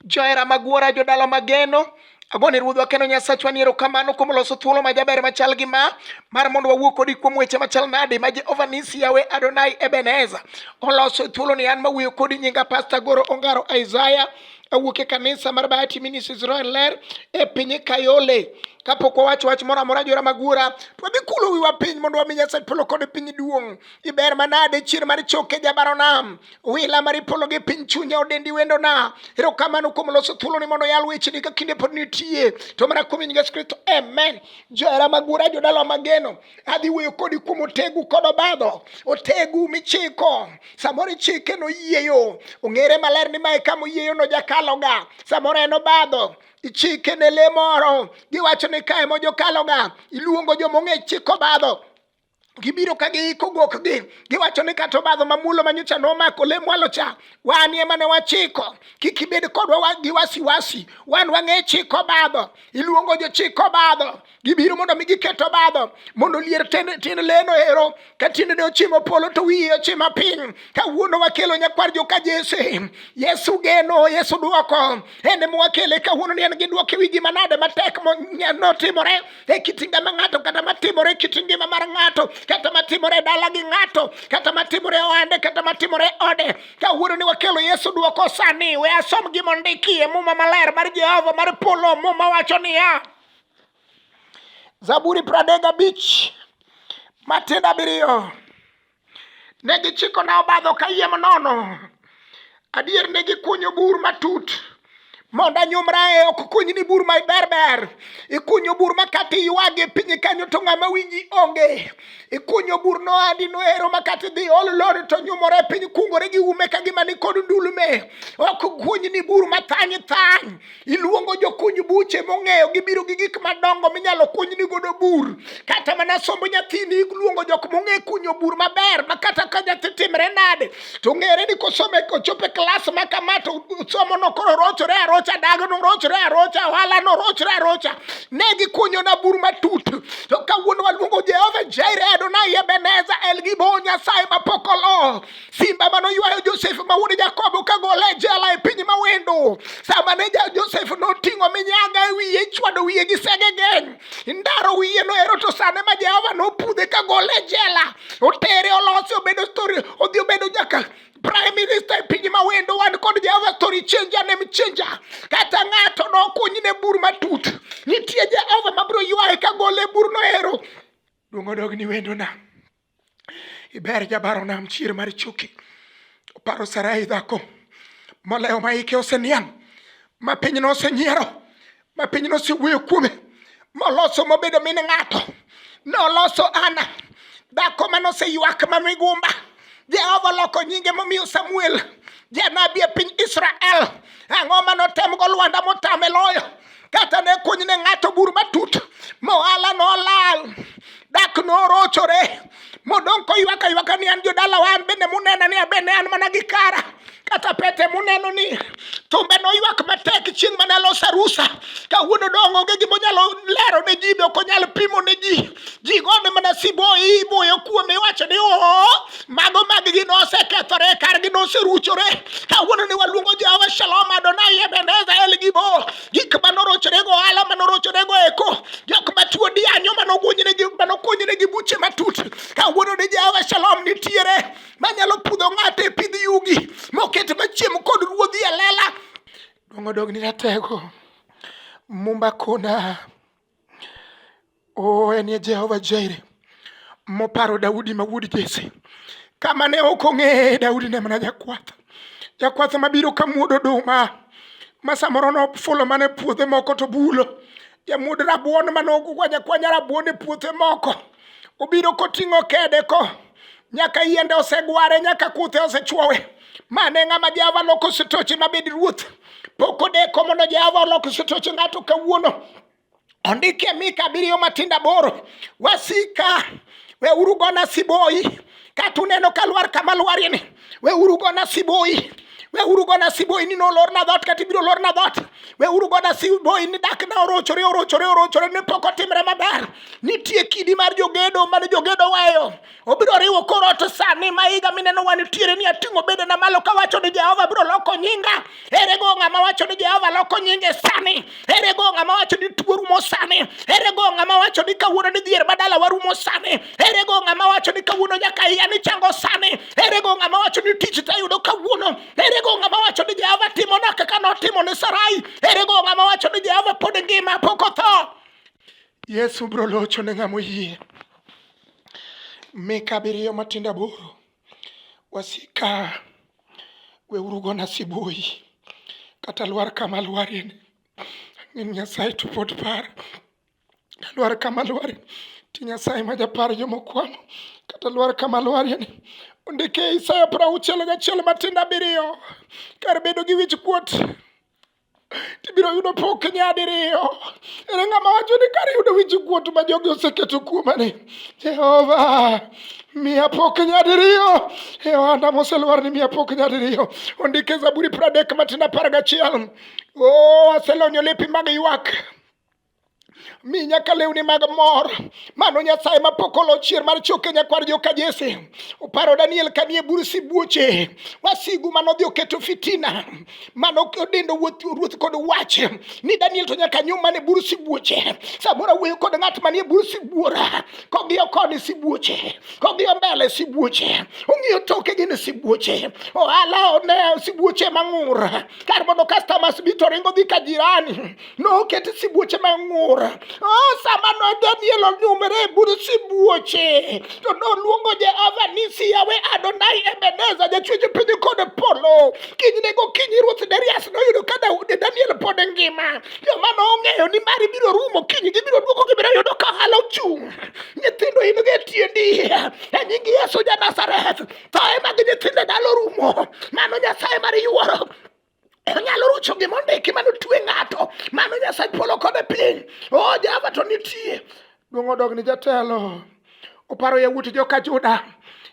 Johera Magwora, jodala mageno agone ruodhwa kendo nyasachwa ni erokamano kuom loso thuolo ma jaber machal gi ma mar mondo wawuo kodi kuom weche machal nade ma jehova nisi yawe adonai ebeneza oloso thuolo ni an mawuoyo kodi nyinga pasta goro ongaro isaya awuok e kanisa mar bahati minis israel ler e piny kayole kapok wawacho wach moro amora jora magwora to wadhi kulo wiwa piny mondo wami nyasaye polo kod piny duong' iber manade chier mar choke jabaronam wila mar ipolo gi piny chunya odendi wendona erokamano kuom loso thuoloni mondo yal wecheni ka kinde pod nitie to mana kuom yesu kristo amen johera magura jodala mageno adhi wuoyo kodi kuom otegu kod obadho otegu michiko samoro ichike noyieyo ong'ere maler ni mae kama oyieyo nojakaloga samoro en obadho ichike ne le moro giwacho ni kae mojokaloga iluongo jomong'e chiko badho gibiro ka giiko gokgi giwacho ni kata obadho mamulo manyocha nomako le mwalo cha wan ema ne wachiko kik ibed kodwa gi wasiwasi wan wang'e chiko obadho iluongo jochik obadho gibiro mondo mi giket obadho mondo lier tin leno ero ka tiendene ochimo polo to wiye ochima piny kawuono wakelo nyakwar joka jese yesu geno yesu dwoko en ema wakele kawuono ni en gi dwoko e wi gima nade matek notimore e kit ngima ng'ato kata matimore e kit ngima mar ng'ato kata matimore e dala gi ng'ato kata matimore e ohande kata matimore e ode kawuono ni wakelo yesu duoko sani we asom gima ondikie muma maler mar jehova mar polo muma wacho niya zaburi pradek abich matindo abiriyo Ne gichikona obadho kayiem nono, adier ne gikunyo bur matut mondo anyumra e ok kuny ni bur ma berber ikunyo bur ma kata iywage piny kanyo to ng'ama winji onge ikunyo bur no andi noero ma kata idhi ol lori to nyumore piny kungore gi ume ka gima ni kod ndulme ok kuny ni bur ma thany thany Iluongo jokuny buche mong'eyo gibiro gi gik madongo minyalo kunyni godo bur. Kata mana somb nyathini iluongo jok mong'e kunyo bur maber ma kata ka nyathi timre nade to ng'ere ni kosome kochopo e klas ma kama to somono koro rochore arocha, dagno rochore arocha, ohalano rochore arocha. Ne gikunyona bur matut. To kawuono waluongo Jehova Jireh, Adonai Ebeneza, El Gibon, Nyasaye mapok olo. simba mane oywayo josef ma wuod jakobo ka gole e jela e piny mawendo sama ne josef noting'o minyaga e wiye ichwado wiye gi sege geny indaro wiye noero to sane ma jehova nopudhe ka gole e jela otere olosi obedo story odhi obedo nyaka prime minister e piny mawendo wan kod jehova story changer nem changer kata ng'ato nokuny ne bur matut nitie jehova mabiro ywaye ka gole e bur noero duong' odog ni wendona iber jabaro nam chier mar chuki oparo sarai dhako molewo ma ike oseniang ma pinyno osenyiero ma pinyno osewuoyo kuome moloso mobedo min ng'ato noloso ana dhako ma noseywak ma migumba jehova oloko nyinge momiyo samuel janabi e piny israel ang'o ma notemgo lwanda motame loyo kata ne kuny ne ng'ato bur matut mohala nolal dak norochore modong' koywaka ywaka ni an jodala wa an bende munena ni abende an mana gi kara kata pete muneno ni tumbe noywak matek chieng' mane alos arusa kawuono dong' onge gimonyalo lero ne ji be ok onyal pimo ne ji ji gone mana siboi iboyo kuome iwacho ni oo mago maggi nosekethore kargi noseruchore kawuono ni waluongo jehova shalom adonai ebeneza elgibo gik ma norochorego ohala ma norochorego eko jok ma tuo dianyo manokuonynegi buche matut kawuono ni jehova shalom nitiere manyalo pudho ng'ato e pidh yugi moket machiem kod ruodhi e lela dong'odog ni ratego mumba kona Oh, en ye Jehova Jaire moparo Daudi ma wuod Jesse. Kama ne ok ong'eye Daudi ne mana jakwath, jakwath mabiro ka muod oduma ma samoro nofulo mana e puothe moko to bulo, jamuod rabuon mane okwanya kwanya rabuon e puothe moko. obiro koting'o kede ko nyaka yiende osegware nyaka kuthe osechwowe mane ng'ama jehova loko sitoche mabed ruoth pok odeko mondo jehova olok sitoche ng'ato kawuono ondike mika abiriyo matindo aboro wasika weuru gona siboi kata uneno ka lwar kama lwarieni We uru gona siboi. We uru gona siboi ni nolor na dhot kata ibiro lor na dhot. We uru gona siboi ni dak na orochore orochore orochore ne pok otimre maber. Nitie kidi mar jogedo mane jogedo weyo. Obiro riwo kor ot sani ma higa mineno wan tiere ni ating'o bedena malo kawacho ni Jehova biro loko nyinga. Ere go ng'ama wacho ni Jehova loko nyinge sani? Ere go ng'ama wacho ni tuo rumo sani? Ere go ng'ama wacho ni kawuono ni dhier badala warumo sani? Ere go ng'ama wacho ni kawuono nyaka iya ni chango sani? Ere go ng'ama wacho ni tich tayudo kawuono? Ere go ng'ama wacho ni Jehova timona kaka notimo ne Sarai? Ere go ng'ama wacho ni Jehova pod ngima pok otho? Yesu bro locho ne ng'ama oyie. Mika abiriyo matindo aboro. Wasika weuru gona siboi kata lwar kama lwarie ni ang'en Nyasaye to pod par lwar kama lwarie ti Nyasaye ma japar jomokwamo kata lwar kama lwarie ni ondike Isaya prauchiel gachiel matindo abiriyo kar bedo gi wich kuot tibiro yudo pok nyadiriyo. Ere ng'ama wacho ni kar yudo wich kuot ma jogi oseketo kuomani, Jehova miya pok nyadiriyo e ohanda moselwar ni miya pok nyadiriyo. Ondike Zaburi pradek matin apar gachiel. O aselonyo lepi mag ywak mi nyaka lewni mag mor mano nyasaye mapok olo chier mar choke nyakwar joka jese oparo daniel kanie bur sibuoche wasigu mano dhi oketo fitina mano odendo ruoth kod wach ni daniel to nyaka nyum mane bur sibuoche samoro wuoyo kod ng'at manie bur sibuora kong'iyo koni sibuoche kong'iyo mbele sibuoche ong'iyo toke gin sibuoche ohala one sibuoche mang'ur kar mondo customers bi to ringo dhi ka jirani noket sibuoche mang'ur oh, sama no daniel onyumre e bur sibuoche to noluongo jehova ni siyawe adonai ebeneza jachwecho piny kod polo kinyne gokinyi ruoth darius noyudo ka daudi daniel pod ngima joma nong'eyo ni mari biro rumo kiny gibiro duoko gibiro yudo ka ohala ochung' nyithindo in gi tiendi e nying yesu ja nazareth thoe mag nyithindo dalo rumo mano nyasaye mar yuoro onyalo rucho gima ondiki mane otue ng'ato mano nyasaye polo kode piny o oh, jehova to nitie duong' odog ni jatelo oparo yawuot joka juda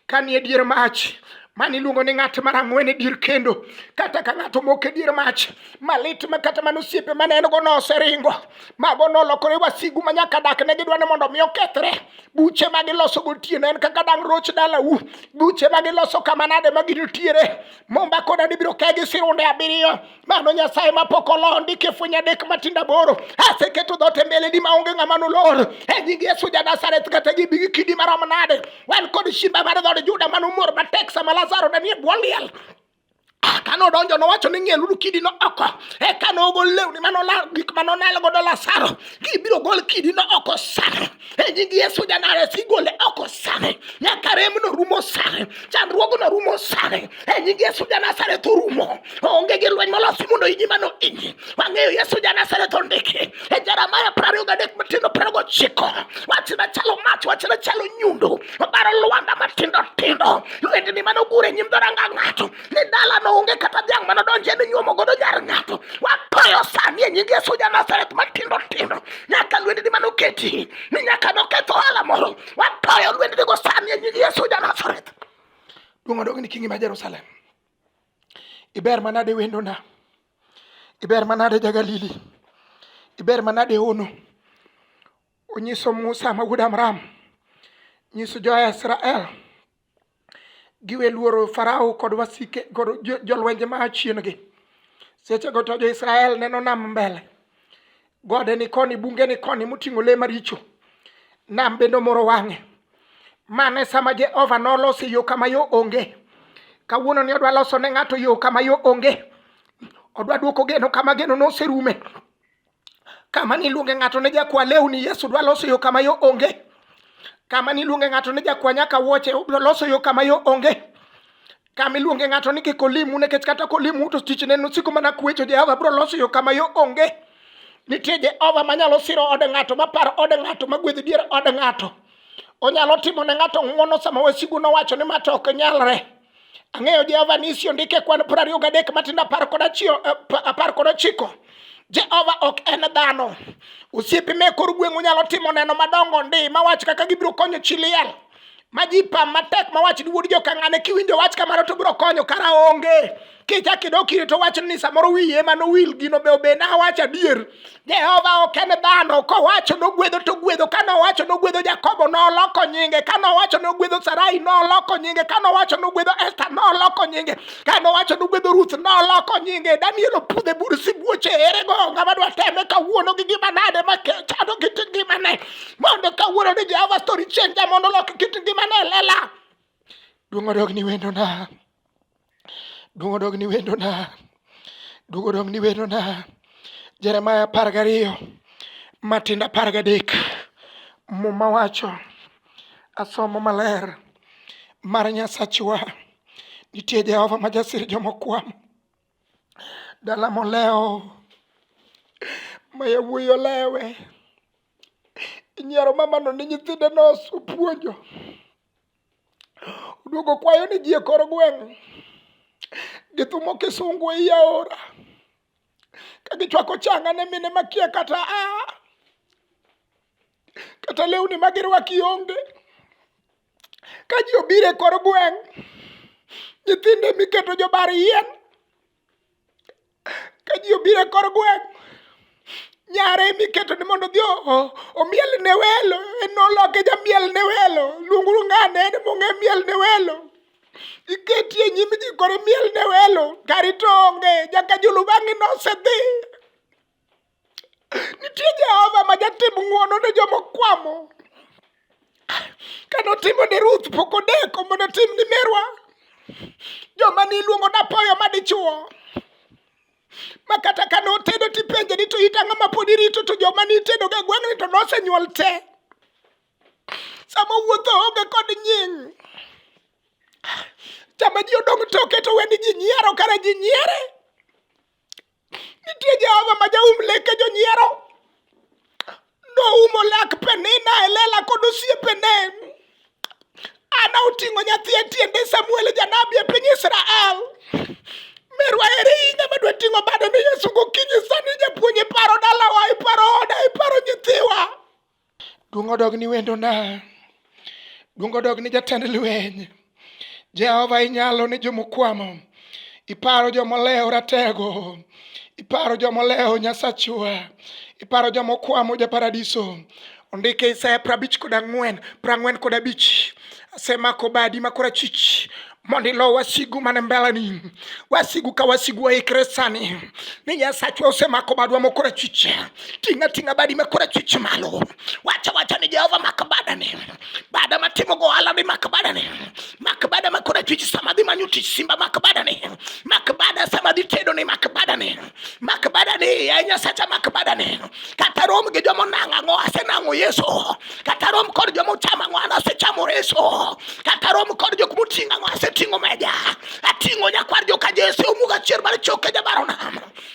ka ni e dier mach mane iluongo ni ng'at mar ang'wen e dier kendo kata ka ng'ato moko e dier mach malit ma kata mana osiepe mane en go noseringo mago nolokore wasigu ma nyaka dak ne gidwa ni mondo mi okethre buche ma giloso gotieno en kaka dang' roch dalau buche ma giloso kama nade ma ginitiere Momba koda dibiro ka gi sirunde abiriyo mano nyasaye mapok olondi kifunya adek matinda boro aseketo dhote mbele di maonge ng'ama nolor e nying yesu ja nazareth kata gibi gi kidi marom nade wan kod shimba mar dhod juda manomor matek sama lazaro ne nie bwo liel ka nodonjo nowacho ni ng'ieluru kidino oko eka nogol lewni manolal gik manonal godo lasaro gibiro gol kidino oko sano e nying Yesu janare sigole oko sani nyaka remno rumo sani chandruogno rumo sani e nying Yesu janasareth orumo onge gi lweny molosi mondo inyi mano inyi wang'eyo Yesu janasareth ondiki e Jeremaya prariyo gadek matindo prariyo gochiko wachna chalo mach wachna chalo nyundo obaro lwanda matindo tindo lwendni mano gure nyim dhoranga ng'ato ni dala no onge kata dhiang' mano donje ni nyuomo godo nyar ng'ato watoyo sani e nyingi Yesu ja Nazareth matindo tindo nyaka lwendni mano keti ni nyaka noketho ohala moro watoyo lwendni go sani e nyingi Yesu ja Nazareth duong' odong' ni kingi ma Jerusalem iber manade wendona iber manade jagalili iber manade ono onyiso Musa ma wuod Amram nyiso jo Israel giwe luoro Farao kod wasike kod jolwenje ma achiengi. Seche go to jo-Israel neno nam mbele, gode ni koni, bunge ni koni moting'o le maricho. Nam bende omoro wang'e. Mane sama Jehova noloso yo kama yo onge. Kawuono ni odwa loso ne ng'ato yo kama yo onge. Odwa duoko geno kama geno noserume. Kama niluonge ng'ato ne jakwa lewni, Yesu dwa loso yo kama yo onge. Kama niluonge ng'ato ne jakwa nyaka wuoche, obiro loso yo kama yo onge. Kama iluonge ng'ato ni kik olimu nikech kata kolimu to tichne nosiko mana kuecho, Jehova biro loso yo kama yo onge. Nitie Jehova manyalo siro od ng'ato, maparo od ng'ato, magwedh dier od ng'ato. Onyalo timo ne ng'ato ng'wono sama wasigu nowacho ni ma to ok nyalre. Ang'eyo Jehova ni isi ondike kwan piero ariyo gadek matindo apar kod achiel eh, pa- apar kod ochiko. Jehova ok en dhano. Osiepe me kor gweng' onyalo timo neno madongo ndi ma wach kaka gibiro konyo chi liel. Ma ji pam matek ma wach ni wuod jokang'ane kiwinjo wach kamano to biro konyo kara onge. kichak idok ire to wach ni samoro wiye ema nowil gino be obe nawacho adier jehova ok en dhano kowacho nogwedho to gwedho ka nowacho nogwedho jakobo noloko nyinge ka nowacho nogwedho sarai noloko nyinge ka nowacho nogwedho esta noloko nyinge ka nowacho nogwedho ruth noloko nyinge daniel opudhe bur sibuoche erego ng'ama dwa teme kawuono gi gima nade ma chando kit ngimane mondo kawuono ni jehova story change mondo olok kit ngimane lela duong' odog ni wendona Duong' odog ni wendona. Duong' odog ni wendona. Jeremaya apar gariyo matindo apar gadek muma wacho asomo maler mar Nyasachwa nitie Jehova ma jasir jomokwamo dala molewo ma yawuoyi olewe inyiero mamano ni nyithinde nosupuonjo Oduogo kwayo ni ji e kor gweng' githumo kisungu e i aora ka gichwako changa ne mine makia kata a kata lewni ma girwaki onge ka ji obiro e kor gweng' nyithinde miketo jobar yien Ka ji obiro e kor gweng', nyare ema iketo ni mondo odhi omiel ne welo, en noloke jamiel ne welo, luong uru ng'ane en ema ong'e miel ne welo. Iketi e nyim ji koro imiel ne welo, kari to onge, nyaka jolupani ne osedhi. Nitie Jehova ma jatim ng'wono ne joma okwamo. Kane otimo ne Ruth pok odeko mondo otim ni merwa. Joma niluongo napoyo ma dichwo. Ma kata kane otedo tipenje ni to it ang'o ma pod irito to joma nitedoga e gweng'ni to nosenyuol te. Sama wuotho onge kod nying'. Sama ji odong' toke to weni ji nyiero kare ji nyiere. Nitie Jehova ma jaum leke jonyiero. Noumo lak Penina e lela kod osiepene. Ana oting'o nyathi e tiende Samuel e janabi e piny Israel. Merwa eri hinya madwa ting'o bado ni Yesu gokinyi sani japuonj iparo dalawa, iparo oda, iparo nyithiwa. Duong' odog ni wendona, duong' odog ni jatend lweny. Jehova inyalo ni jomokwamo, iparo jomolewo ratego, iparo jomolewo Nyasachwa, iparo jomokwamo ja paradiso. Ondike Isaya prabich kod ang'wen, prang'wen kod abich. Asemako badi ma korachwich, mondo ilo wasigu mane mbeleni wasigu ka wasigu waikre sani ni nyasachwa osemako badwa mokora chiche ting'a ting'a badi makora chiche malo wacha wacha ni jehova mak badani bada matimo go ohala ni mak badani mak bada makora chiche sama dhi manyo tich simba mak badani mak bada sama dhi tedo ni mak badani mak badani ya nyasacha mak badani kata rom gi joma nang'ang'o asenang'o yesu kata rom kod joma ochamo ang'o an asechamo reso kata rom kod jok moting'o ang'o aseting'o meja ating'o nyakwar joka jese omuga chier mar choke jabarona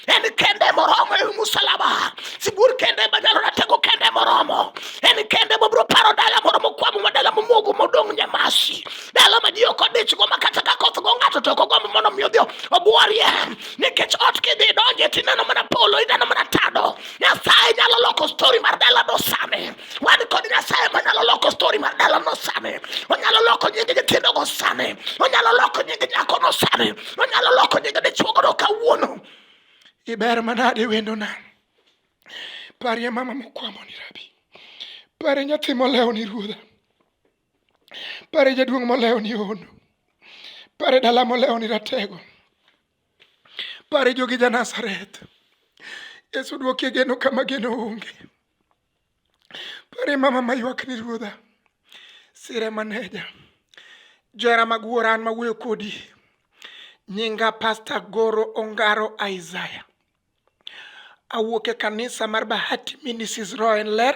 en kende moromo e musalaba sibuor kende manyalo ratego kende moromo en kende mobiro paro dala moro mokwamo ma dala momogo modong' nyamasi dala ma ji ok odichgo ma kata ka koth go ng'ato to ok ogombo mondo mi odhi obworie nikech ot kidhi donje tineno mana polo ineno mana tado Nyasaye nyalo loko story mar dala nosame. Wan kod Nyasaye manyalo loko story mar dala nosame. Onyalo loko nying nyithindo go same. Onyalo loko nying nyako no same. Onyalo loko nying dichuo go kawuono. Iber manade wendo na. Parie mama mokwamo ni rabi. Pare nyathi molewo ni ruodha. Pare jaduong' molewo ni hono. Pare dala molewo ni ratego. Pare jogi ja Nazareth. Yesu dwokie geno kama geno onge. Pare mama maywak ni ruodha. Sire maneja. Jera mag wuora an mawuoyo kodi. Nyinga Pastor Goro Ongaro Isaiah. Awuok e kanisa mar Bahati Ministries Roen Ler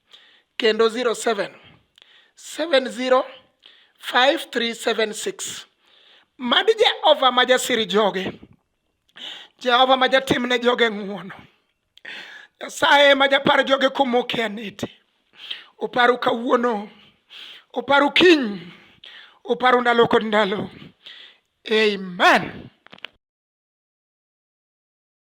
kendo 07 70 5376 mad jehova ma jasiri joge jehova ma jatimne joge ng'uono nyasaye ma japar joge kumoke anete oparu kawuono oparu kiny oparu ndalo kod ndalo amen